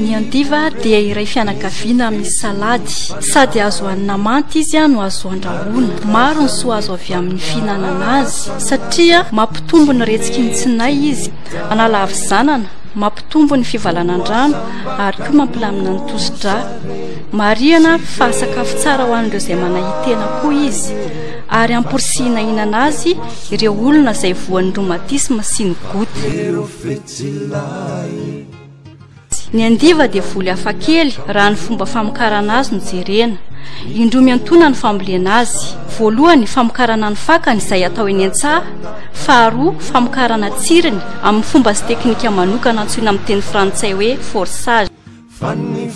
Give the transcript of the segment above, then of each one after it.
Ny andiva dia iray fianakaviana misy salady. Sady azo hanina manta izy no azo handrahoina. Maro ny soa azo avy amin'ny fihinanana azy satria mampitombo ny retsiky ny tsinay izy, manala havizanana, mampitombo ny fivalanan-drano ary koa mampilamina ny tosi-drà. Marihana fa sakafo tsara ho an'ireo izay manahitena koa izy ary amporisihina hihinana azy ireo olona izay voan'ny rhumatisme sy ny goutte. Ny andiva dia voly hafa kely raha ny fomba famokarana azy no jerena. Indroa miantoana ny fambolena azy. Voalohany, famokarana ny fakany izay atao eny an-tsaha. Faharoa, famokarana tsiriny amin'ny fomba sy teknika manokana antsoina amin'ny teny frantsay hoe forçage.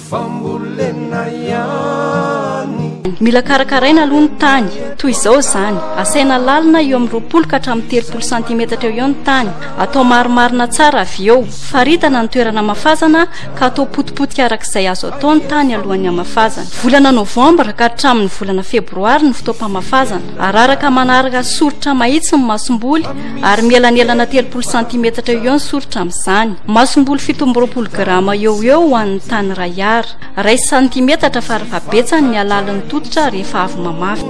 Fambolena ihany. Mila karakaraina aloha ny tany. Toy izao izany, asaina lalina eo amin'ny roapolo ka hatramin'ny telopolo santimetatra eo eo ny tany. Atao marimarina tsara avy eo. Faritana ny toerana hamafazana ka atao potipotika araka izay azo atao ny tany alohan'ny hamafazana. Volana novambra ka hatramin'ny volana febroary ny fotoam-pamafazana. Araraka manaraka soritra mahitsy ny masomboly. ary mielanelana telopolo santimetatra eo eo ny soritra amin'izany. Masomboly fito amby roapolo grama eo ho eo ho an'ny tany iray ara. Iray santimetatra farafahabetsany ny halalin'ny tototra rehefa avy mamafy.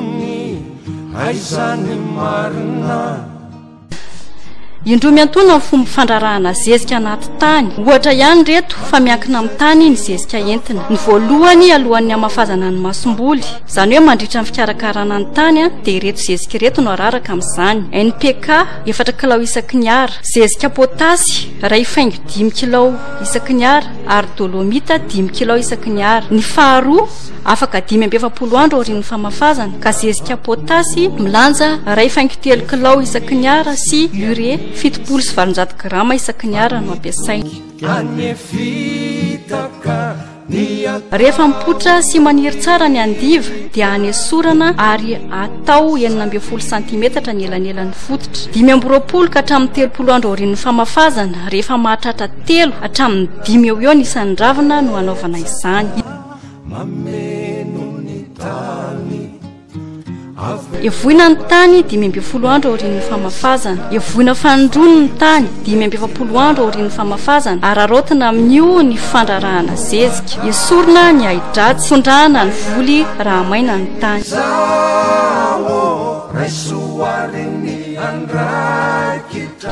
Indroa miantoana ny fomba fandrarahana zezika anaty tany. Ohatra ihany ireto fa miankina amin'ny tany ny zezika entina. Ny voalohany alohan'ny hamafazana ny masomboly. Izany hoe mandritra ny fikarakarana ny tany dia ireto zezika ireto no araraka amin'izany, NPK efatra kilao isaky ny Ar, zezika potasy iray faingo dimy kilao isaky ny Ar ary dolomita dimy kilao isaky ny Ar. Ny faharoa, afaka dimy amby efapolo andro aorian'ny famafazana, ka zezika potasy milanja iray faingo telo kilao isaky ny Ar sy ure fitopolo sy valonjato grama isaky ny Ar no ampiasaina. Rehefa mipoitra sy maniry tsara ny andiva dia anesorana ary atao enina ambin'ny folo santimetatra ny elanelan'ny fototra. Dimy amby roapolo ka hatramin'ny telopolo andro aorian'ny famafazana, rehefa mahatratra telo hatramin'ny dimy eo eo ny isan'ny ravina no hanaovana izany. Hevohina ny tany dimy ambin'ny folo andro aorian'ny famafazana. Hevohina fanindroany ny tany dimy amby efapolo andro aorian'ny famafazana. Araraotina amin'io ny fandrarahana zezika. Esorina ny ahi-dratsy. Fondrahana ny voly raha maina ny tany.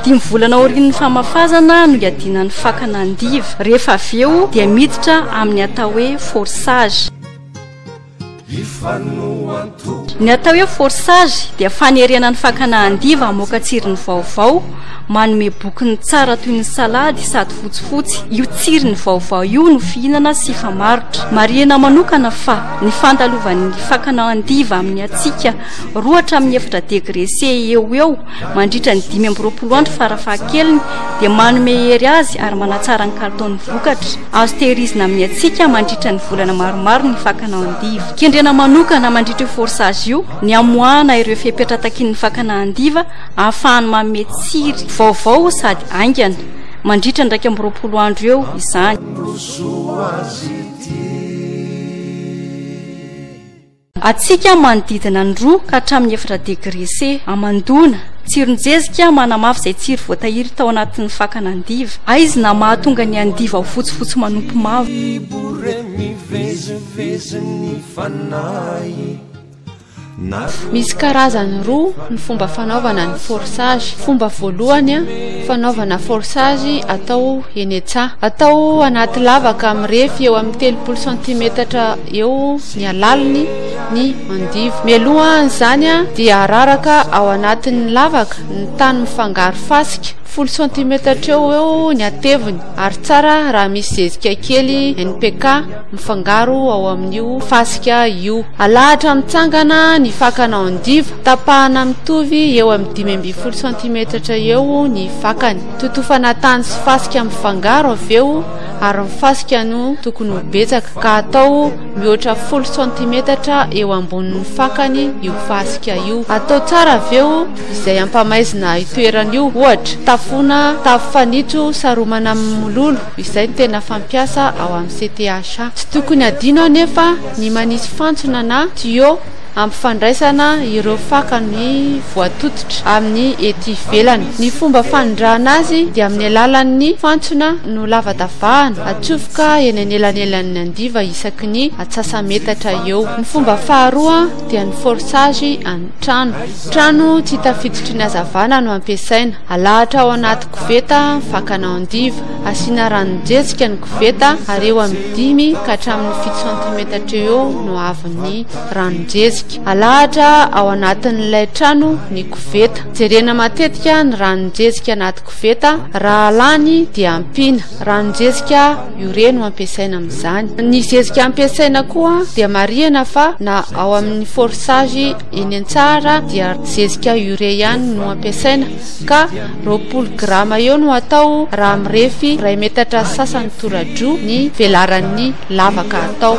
Dimy volana aorian'ny famafazana no iadiana ny fakana andiva. Rehefa avy eo dia miditra amin'ny atao hoe forçage. Ny atao hoe forçage dia fanerena ny fakana andiva hamoaka tsirony vaovao, manome bokony tsara toy ny salady sady fotsifotsy. Io tsirony vaovao io no fihinana sy famarotra. Marihina manokana fa ny fandalovan'ny fakana andiva amin'ny hatsiaka roa hatramin'ny efatra degre C eo ho eo, Mandritra ny dimy amby roapolo andro farafahakeliny dia manome hery azy ary manatsara ny kalitaon'ny vokatra. Azo tehirizina amin'ny hatsiaka mandritra ny volana maromaro ny fakana andiva. Kendrena manokana mandritra io forçage io ny hamoahana ireo fepetra takian'ny fakana andiva ahafahany manome tsiry vaovao sady haingana. Mandritra ny iraika amby roapolo andro eo izany. Hatsiaka manodidina ny roa ka hatramin'ny efatra degre C. Hamandoana. Tsiron-jezika manamafy izay tsiry voatahiry tao anatin'ny fakana andiva. Aizina mahatonga ny andiva ho fotsifotsy manopy mavo. Misy karazany roa ny fomba fanaovana ny forçage. Fomba voalohany fanaovana forçage atao eny an-tsaha. Atao anaty lavaka mirefy eo amin'ny telopolo santimetatra eo. ny halaliny, ny andivo. Mialoha an'izany dia araraka ao anatin'ny lavaka ny tany mifangaro fasika, folo santimetatra eo ho eo ny hateviny ary tsara raha misy zezika kely, NPK, mifangaro ao amin'io fasika io. Alahatra mitsangana ny fakana andivo, tapahana mitovy eo amin'ny dimy ambin'ny folo santimetatra eo ny fakany. Totofana tany sy fasika mifangaro avy eo. ary ny fasika no tokony ho betsaka ka atao mihoatra folo santimetatra eo ambonin'ny fakany io fasika io. Atao tsara avy eo izay hampamaizina itoerany io, ohatra tafoana tafo fanitso saromana amin'ny mololo izay no tena fampiasa ao amin'ny CTHA. Tsy tokony adino anefa ny manisy fantsona na tuyau ampifandraisana ireo fakany voatototra amin'ny ety ivelany. Ny fomba fanondrahana azy dia amin'ny alalan'ny fantsona nolavadavahana atsofoka eny anelanelan'ny andiva isaky ny atsasa-metatra eo. Ny fomba faharoa dia ny forçage an'ny trano. Trano tsy hita fijitry ny hazavana no ampiasaina. Alahatra ao anaty koveta fakana andiva. Asiana ranon-jejika ny koveta ary eo amin'ny dimy ka hatramin'ny fito santimetatra eo no ahavon'ny ranon-jezika. Alahatra ao anatin'ilay trano ny koveta. Jerena matetika ny ranon-jezika anaty koveta, raha lany dia ampiana. Ranon-jezika ure no ampiasaina amin'izany. Ny zezika ampiasaina koa dia marihana fa na ao amin'ny forçage eny an-tsaha ara dia zezika ure ihany no ampiasaina ka roapolo grama eo no atao raha mirefy iray metatra sy sasany toradroa ny velaran'ny lavaka atao.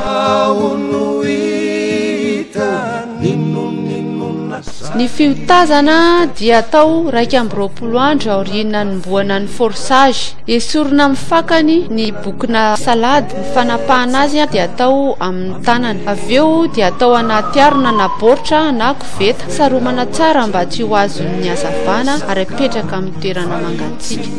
Ny fiotazana dia atao raika amby roapolo andro aorian'ny nanombohana ny forçage. Esorina amin'ny fakany ny bokona salady. Ny fanapahana azy dia atao amin'ny tanana. Avy eo dia atao anaty harona na baoritra na koveta. Saromana tsara mba tsy ho azon'ny hazavana ary apetraka amin'ny toerana mangatsiaka.